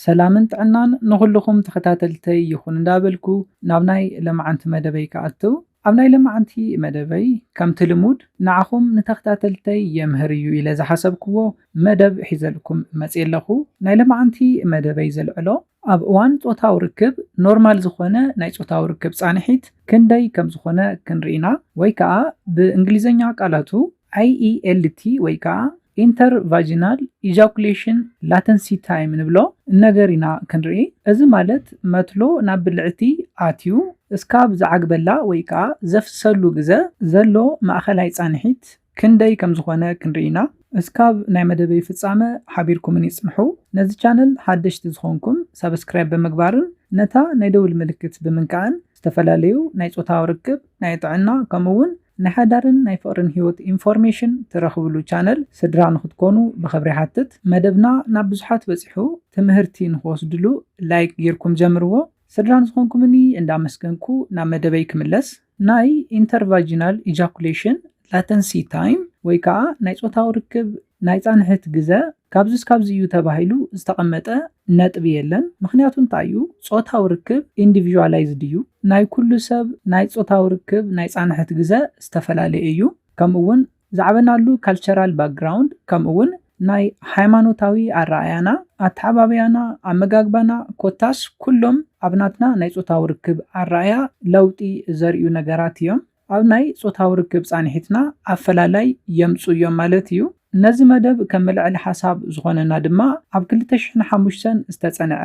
ሰላምን ጥዕናን ንኹሉኹም ተኸታተልተይ ይኹን እንዳበልኩ ናብ ናይ ለማዓንቲ መደበይ ክኣቱ ኣብ ናይ ለማዓንቲ መደበይ ከምቲ ልሙድ ንዓኹም ንተኽታተልተይ የምህር እዩ ኢለ ዝሓሰብክዎ መደብ ሒዘልኩም መጽየ ኣለኹ ናይ ለማዓንቲ መደበይ ዘልዕሎ ኣብ እዋን ጾታዊ ርክብ ኖርማል ዝኾነ ናይ ጾታዊ ርክብ ጻንሒት ክንደይ ከምዝኾነ ክንሪኢና ወይ ከኣ ብእንግሊዘኛ ቃላቱ IELT ወይ ከኣ ኢንተር ቫጂናል ኢጃኩሌሽን ላተንሲ ታይም ንብሎ ነገር ኢና ክንርኢ። እዚ ማለት መትሎ ናብ ብልዕቲ ኣትዩ እስካብ ዝዓግበላ ወይ ከኣ ዘፍስሰሉ ግዘ ዘሎ ማእኸላይ ፃንሒት ክንደይ ከምዝኾነ ክንርኢ ኢና። እስካብ ናይ መደበይ ፍፃመ ሓቢርኩምኒ ፅንሑ። ነዚ ቻነል ሓደሽቲ ዝኾንኩም ሳብስክራይብ ብምግባርን ነታ ናይ ደውል ምልክት ብምንካእን ዝተፈላለዩ ናይ ጾታዊ ርክብ፣ ናይ ጥዕና ከምኡ ውን ንሓዳርን ናይ ፍቕርን ህይወት ኢንፎርሜሽን ትረኽብሉ ቻነል ስድራ ንክትኮኑ ብኽብሪ ይሓትት። መደብና ናብ ብዙሓት በጺሑ ትምህርቲ ንክወስድሉ ላይክ ጌርኩም ጀምርዎ። ስድራ ንዝኾንኩምኒ እንዳመስገንኩ ናብ መደበይ ክምለስ። ናይ ኢንተርቫጂናል ኢጃኩሌሽን ላተንሲ ታይም ወይ ከኣ ናይ ጾታዊ ርክብ ናይ ፃንሒት ግዘ ካብዚ እስካብዚ እዩ ተባሂሉ ዝተቐመጠ ነጥቢ የለን። ምኽንያቱ እንታይ እዩ? ፆታዊ ርክብ ኢንዲቪዥዋላይዝድ እዩ። ናይ ኩሉ ሰብ ናይ ፆታዊ ርክብ ናይ ፃንሒት ግዘ ዝተፈላለየ እዩ። ከምኡ እውን ዝዓበናሉ ካልቸራል ባክግራውንድ ከምኡ እውን ናይ ሃይማኖታዊ ኣረኣእያና፣ ኣተዓባብያና፣ ኣመጋግባና ኮታስ ኩሎም ኣብ ናትና ናይ ፆታዊ ርክብ ኣረኣእያ ለውጢ ዘርእዩ ነገራት እዮም። ኣብ ናይ ጾታዊ ርክብ ጻንሒትና ኣፈላላይ የምጽኡ እዮም ማለት እዩ። ነዚ መደብ ከም መልዐሊ ሓሳብ ዝኾነና ድማ ኣብ ክልተ ሽሕን ሓሙሽተን ዝተጸንዐ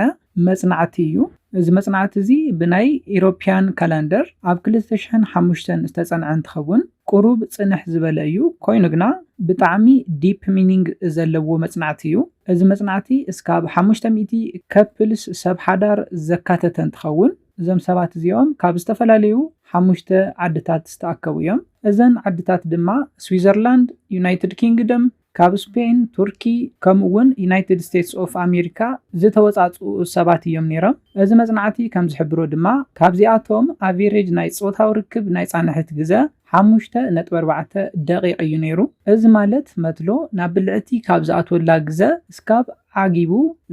መጽናዕቲ እዩ። እዚ መጽናዕቲ እዚ ብናይ ኢሮፕያን ካላንደር ኣብ ክልተ ሽሕን ሓሙሽተን ዝተጸንዐ እንትኸውን ቁሩብ ጽንሕ ዝበለ እዩ ኮይኑ ግና ብጣዕሚ ዲፕ ሚኒንግ ዘለዎ መጽናዕቲ እዩ። እዚ መጽናዕቲ እስካብ ሓሙሽተ ሚእቲ ከፕልስ፣ ሰብ ሓዳር፣ ዘካተተ እንትኸውን፣ እዞም ሰባት እዚኦም ካብ ዝተፈላለዩ ሓሙሽተ ዓድታት ዝተኣከቡ እዮም። እዘን ዓድታት ድማ ስዊዘርላንድ፣ ዩናይትድ ኪንግደም፣ ካብ ስፔን፣ ቱርኪ፣ ከምኡ እውን ዩናይትድ ስቴትስ ኦፍ ኣሜሪካ ዝተወፃፅኡ ሰባት እዮም ነይሮም። እዚ መፅናዕቲ ከም ዝሕብሮ ድማ ካብዚኣቶም ኣቬሬጅ ናይ ፆታዊ ርክብ ናይ ፃንሒት ግዘ ሓሙሽተ ነጥቢ ኣርባዕተ ደቒቕ እዩ ነይሩ። እዚ ማለት መትሎ ናብ ብልዕቲ ካብ ዝኣትወላ ግዘ እስካብ ዓጊቡ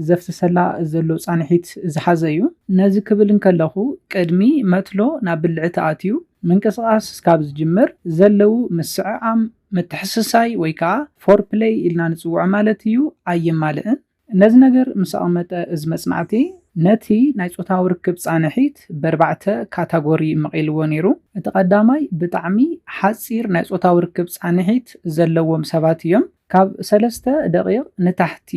ዘፍስሰላ ዘሎ ጻንሒት ዝሓዘ እዩ። ነዚ ክብል እንከለኹ፣ ቅድሚ መትሎ ናብ ብልዒ ተኣትዩ ምንቅስቓስ እስካብ ዝጅምር ዘለዉ ምስዕዓም፣ ምትሕስሳይ ወይ ከኣ ፎርፕለይ ኢልና ንጽውዖ ማለት እዩ፣ ኣየማልእን። ነዚ ነገር ምስ ኣቕመጠ እዚ መጽናዕቲ ነቲ ናይ ጾታዊ ርክብ ጻንሒት በርባዕተ ካታጎሪ መቒልዎ ነይሩ። እቲ ቀዳማይ ብጣዕሚ ሓጺር ናይ ጾታዊ ርክብ ጻንሒት ዘለዎም ሰባት እዮም። ካብ ሰለስተ ደቒቕ ንታሕቲ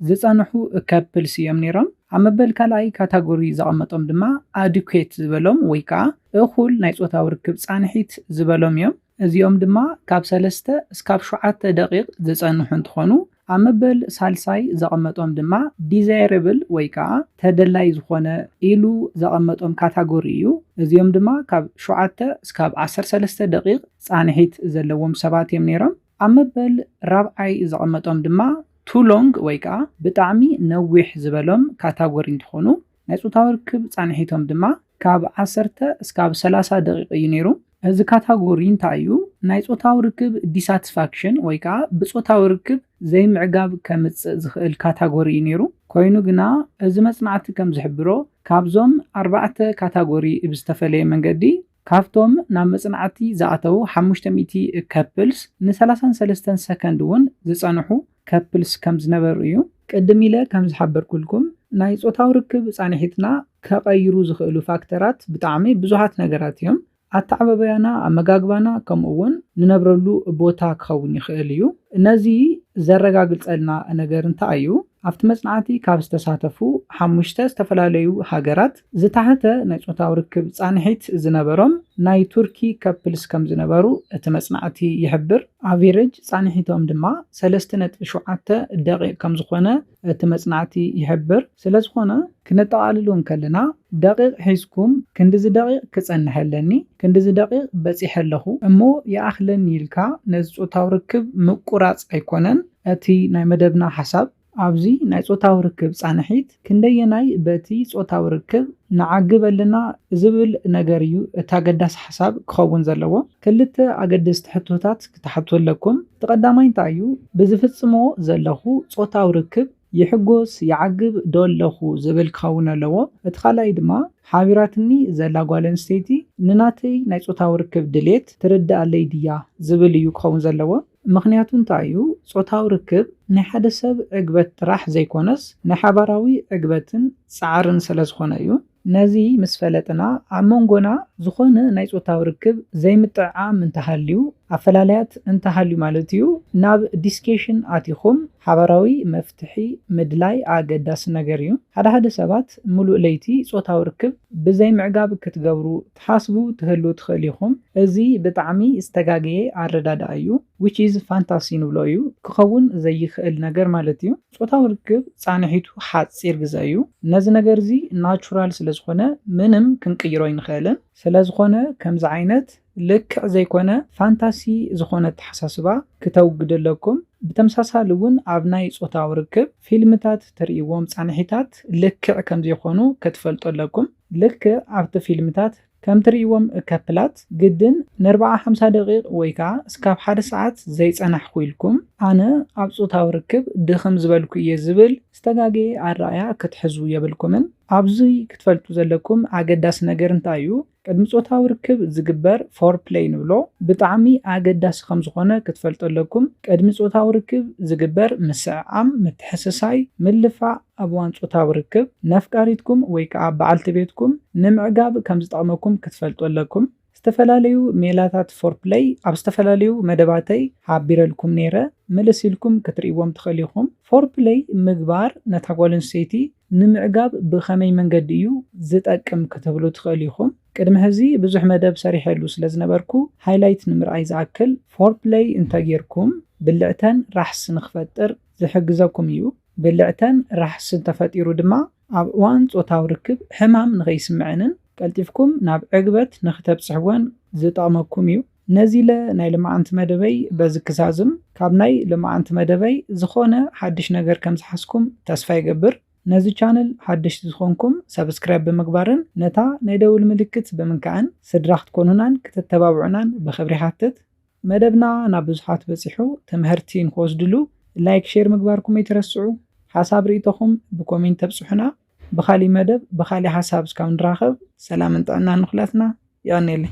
ዝጸንሑ ከፕልስ እዮም ነይሮም። ኣብ መበል ካልኣይ ካታጎሪ ዘቐመጦም ድማ ኣድኲት ዝበሎም ወይ ከኣ እኹል ናይ ጾታዊ ርክብ ጻንሒት ዝበሎም እዮም። እዚኦም ድማ ካብ ሰለስተ እስካብ ሸውዓተ ደቒቕ ዝጸንሑ እንትኾኑ፣ ኣብ መበል ሳልሳይ ዘቐመጦም ድማ ዲዛይረብል ወይ ከኣ ተደላይ ዝኾነ ኢሉ ዘቐመጦም ካታጎሪ እዩ። እዚኦም ድማ ካብ ሸውዓተ እስካብ ዓሰርተ ሰለስተ ደቒቕ ጻንሒት ዘለዎም ሰባት እዮም ነይሮም። ኣብ መበል ራብዓይ ዘቐመጦም ድማ ቱ ሎንግ ወይ ከኣ ብጣዕሚ ነዊሕ ዝበሎም ካታጎሪ እንትኾኑ ናይ ፆታዊ ርክብ ፃንሒቶም ድማ ካብ ዓሰርተ እስካብ ሰላሳ ደቒቕ እዩ ነይሩ። እዚ ካታጎሪ እንታይ እዩ ናይ ፆታዊ ርክብ ዲሳትስፋክሽን ወይ ከኣ ብፆታዊ ርክብ ዘይምዕጋብ ከምፅእ ዝኽእል ካታጎሪ እዩ ነይሩ። ኮይኑ ግና እዚ መፅናዕቲ ከምዝሕብሮ ካብዞም ኣርባዕተ ካታጎሪ ብዝተፈለየ መንገዲ ካብቶም ናብ መጽናዕቲ ዝኣተዉ ሓሙሽተ ሚእቲ ከፕልስ፣ ንሰላሳን ሰለስተን ሰከንድ እውን ዝጸንሑ ከፕልስ ከም ዝነበሩ እዩ። ቅድም ኢለ ከም ዝሓበርኩልኩም፣ ናይ ጾታዊ ርክብ ጻንሒትና ከቐይሩ ዝኽእሉ ፋክተራት ብጣዕሚ ብዙሓት ነገራት እዮም። ኣተዓባብያና፣ ኣመጋግባና፣ ከምኡ እውን ንነብረሉ ቦታ ክኸውን ይኽእል እዩ። ነዚ ዘረጋግጸልና ነገር እንታይ እዩ? ኣብቲ መጽናዕቲ ካብ ዝተሳተፉ ሓሙሽተ ዝተፈላለዩ ሃገራት፣ ዝተሓተ ናይ ጾታዊ ርክብ ጻንሒት ዝነበሮም ናይ ቱርኪ ከፕልስ ከም ዝነበሩ እቲ መጽናዕቲ ይሕብር። ኣቬረጅ ጻንሒቶም ድማ ሰለስተ ነጥቢ ሸውዓተ ደቒቕ ከም ዝዀነ እቲ መጽናዕቲ ይሕብር። ስለዝዀነ ክነጠቓልሎ እንከለና ደቒቕ ሒዝኩም ክንድዚ ደቒቕ ክጸንሕ ኣለኒ፣ ክንድዚ ደቒቕ በጺሐ ኣለኹ እሞ ይኣኽለኒ ኢልካ ነዚ ጾታዊ ርክብ ምቍራጽ ኣይኰነን እቲ ናይ መደብና ሓሳብ። ኣብዚ ናይ ጾታዊ ርክብ ጻንሒት ክንደየናይ በቲ ጾታዊ ርክብ ንዓግብ ኣለና ዝብል ነገር እዩ እቲ ኣገዳሲ ሓሳብ ክኸውን ዘለዎ። ክልተ ኣገደስቲ ሕቶታት ክትሓቱ ኣለኩም። እቲ ቀዳማይ እንታይ እዩ? ብዝፍጽሞ ዘለኹ ጾታዊ ርክብ ይሕጎስ፣ ይዓግብ፣ ዶ ኣለኹ ዝብል ክኸውን ኣለዎ። እቲ ካልኣይ ድማ ሓቢራትኒ ዘላ ጓል ኣንስተይቲ ንናተይ ናይ ጾታዊ ርክብ ድሌት ትርድኣለይ ድያ ዝብል እዩ ክኸውን ዘለዎ። ምኽንያቱ እንታይ እዩ? ጾታዊ ርክብ ናይ ሓደ ሰብ ዕግበት ጥራሕ ዘይኮነስ ናይ ሓባራዊ ዕግበትን ጻዕርን ሰለ ዝኾነ እዩ። ነዚ ምስ ፈለጥና ኣብ መንጎና ዝኾነ ናይ ጾታዊ ርክብ ዘይምጥዕዓም እንተሃልዩ፣ ኣፈላላያት እንተሃልዩ ማለት እዩ፣ ናብ ዲስኬሽን ኣቲኹም ሓባራዊ መፍትሒ ምድላይ ኣገዳሲ ነገር እዩ። ሓደ ሓደ ሰባት ምሉእ ለይቲ ጾታዊ ርክብ ብዘይምዕጋብ ክትገብሩ ትሓስቡ ትህልው ትክእል ኢኩም እዚ ብጣዕሚ ዝተጋገየ ኣረዳድኣ እዩ which is ፋንታሲ ንብሎ እዩ ክከውን ዘይክእል ነገር ማለት እዩ ጾታዊ ርክብ ጻንሒቱ ሓጺር ግዘ እዩ ነዚ ነገር እዚ ናቹራል ስለ ዝኮነ ምንም ክንቅይሮ ኣይንክእልን ስለ ዝኮነ ከምዚ ዓይነት ልክዕ ዘይኮነ ፋንታሲ ዝኮነ ኣተሓሳስባ ክተውግዱ ኣለኩም ብተመሳሳሊ ውን ኣብ ናይ ጾታዊ ርክብ ፊልምታት ትርእይዎም ጻንሒታት ልክዕ ከምዘይኮኑ ክትፈልጡ ኣለኩም። ልክዕ ኣብቲ ፊልምታት ከም ትርእይዎም እከፕላት ግድን ነርብዓ ሓምሳ ደቂቅ ወይ ከኣ እስካብ ሓደ ሰዓት ዘይጸናሕኩ ኢልኩም ኣነ ኣብ ጾታዊ ርክብ ድኽም ዝበልኩ ኢየ ዝብል ዝተጋገየ ኣረኣእያ ክትሕዙ የብልኩምን። ኣብዚ ክትፈልጡ ዘለኩም ኣገዳሲ ነገር እንታይ ኢዩ ቅድሚ ጾታዊ ርክብ ዝግበር ፎርፕለይ ንብሎ ብጣዕሚ ኣገዳሲ ከም ዝኾነ ክትፈልጡ ኣለኩም ቅድሚ ጾታዊ ርክብ ዝግበር ምስዕዓም ምትሕስሳይ ምልፋዕ ኣብ እዋን ጾታዊ ርክብ፣ ነፍቃሪትኩም ወይ ከኣ በዓልቲ ቤትኩም ንምዕጋብ ከም ዝጠቕመኩም ክትፈልጡ ኣለኩም። ዝተፈላለዩ ሜላታት ፎርፕለይ ኣብ ዝተፈላለዩ መደባተይ ሓቢረልኩም ነይረ፣ ምልስ ኢልኩም ክትርእይዎም ትኽእሉ ኢኹም። ፎርፕለይ ምግባር ነታ ጓል ኣንስተይቲ ንምዕጋብ ብኸመይ መንገዲ እዩ ዝጠቅም ክትብሉ ትኽእሉ ኢኹም። ቅድሚ ሕዚ ብዙሕ መደብ ሰሪሐሉ ስለ ዝነበርኩ ሃይላይት ንምርኣይ ዝኣክል፣ ፎርፕለይ እንተ ጌርኩም ብልዕተን ራሕሲ ንኽፈጥር ዝሕግዘኩም እዩ። ብልዕተን ራሕሲ እንተፈጢሩ ድማ ኣብ እዋን ጾታዊ ርክብ ሕማም ንኸይስምዐንን ቀልጢፍኩም ናብ ዕግበት ንኽተብጽሕወን ዝጠቕመኩም እዩ። ነዚለ ናይ ልማዓንቲ መደበይ በዚ ክዛዝም። ካብ ናይ ልማዓንቲ መደበይ ዝኾነ ሓድሽ ነገር ከም ዝሓዝኩም ተስፋ ይገብር። ነዚ ቻነል ሓደሽቲ ዝኾንኩም ሳብስክራይብ ብምግባርን ነታ ናይ ደውል ምልክት ብምንካዕን ስድራ ክትኮኑናን ክተተባብዑናን ብኽብሪ ይሓትት። መደብና ናብ ብዙሓት በጺሑ ተመሀርቲ ንክወስድሉ ላይክ ሼር ምግባርኩም ኣይትረስዑ ሓሳብ ሪኢቶኹም ብኮሜንት ተብጽሑና ብኻሊእ መደብ ብኻሊእ ሓሳብ እስካብ ንራኸብ ሰላምን ጥዕናን ንኹላትና የቀኔለይ።